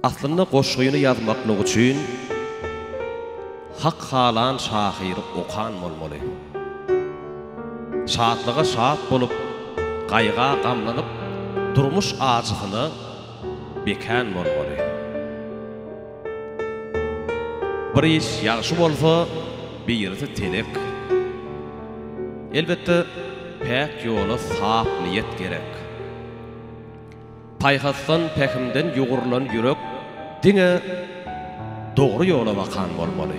Aslynda goşgyny ýazmaklyk üçin hak halan şahyry okan bolmaly. Şatlyga şat bolup, gaýga gamlanyp, durmuş ajysyna bekän bolmaly. Bir iş ýagşy bolsa, birisi telek. Elbetde, päk ýola sap niýet gerek. Paýhasdan, pähimden ýugrulan ýürek diňe dogry ýola bakan bolmaly.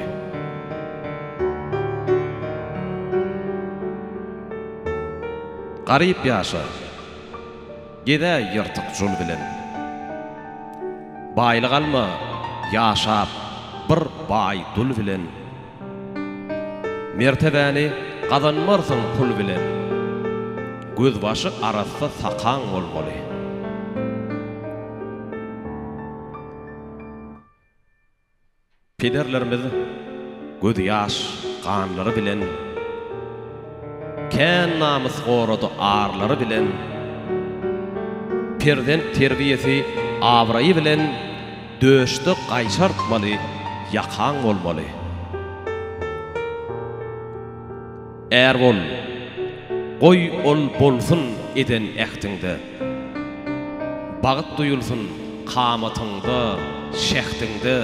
Garyp ýaşa. Geze ýyrtyk jul bilen. Baýlyk alma, ýaşap bir baý dul bilen. Mertebäni gazanmarsyň pul bilen. Gözbaşy arassa sakaň bolmaly. Pederlerimiz göz ýaş ganlary bilen, kän namys gorady arlary bilen, perzent terbiýesi abraýy bilen döşde gaýşartmaly ýakaň bolmaly. Är bol, goý ol bolsun eden ähtiňde, Bagt duýulsyn kamatyňda, şähdiňde.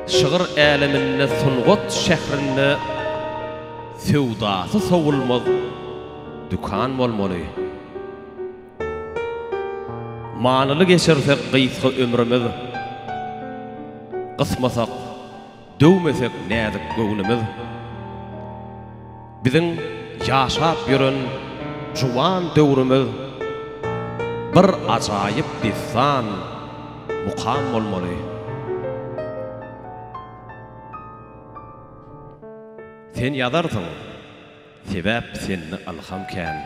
Şygyr äleminde, sungat şährinde Söwdasy sowulmaz dükan bolmaly. Manyly geçirsek gysga ömrümiz, Gysmasak, Döwmesek näzik göwnümiz Biziň ýaşap ýören juwan döwrümiz Bir ajaýyp dessan, mukam bolmaly. Sen ýazarsyň. Sebäp sende ylham kän.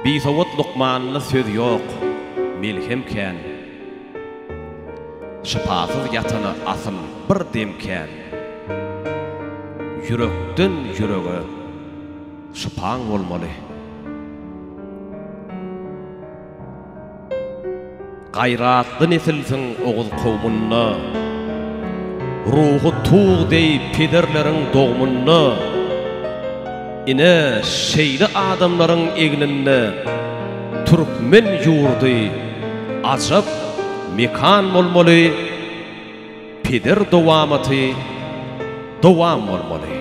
Bisowat lukmanyna söz ýok, melhem kän. Şypasyz ýatana asyl bir dem kän. Ýürekden ýürege şypaň bolmaly. Gaýratly nesilsiň Oguz kowmunda, Ruhy tug deý pederleriň dogmunda, Ine, şeýle adamlaryň egninde Türkmen ýurdy ajap mekan bolmaly, Peder dowamaty dowam bolmaly.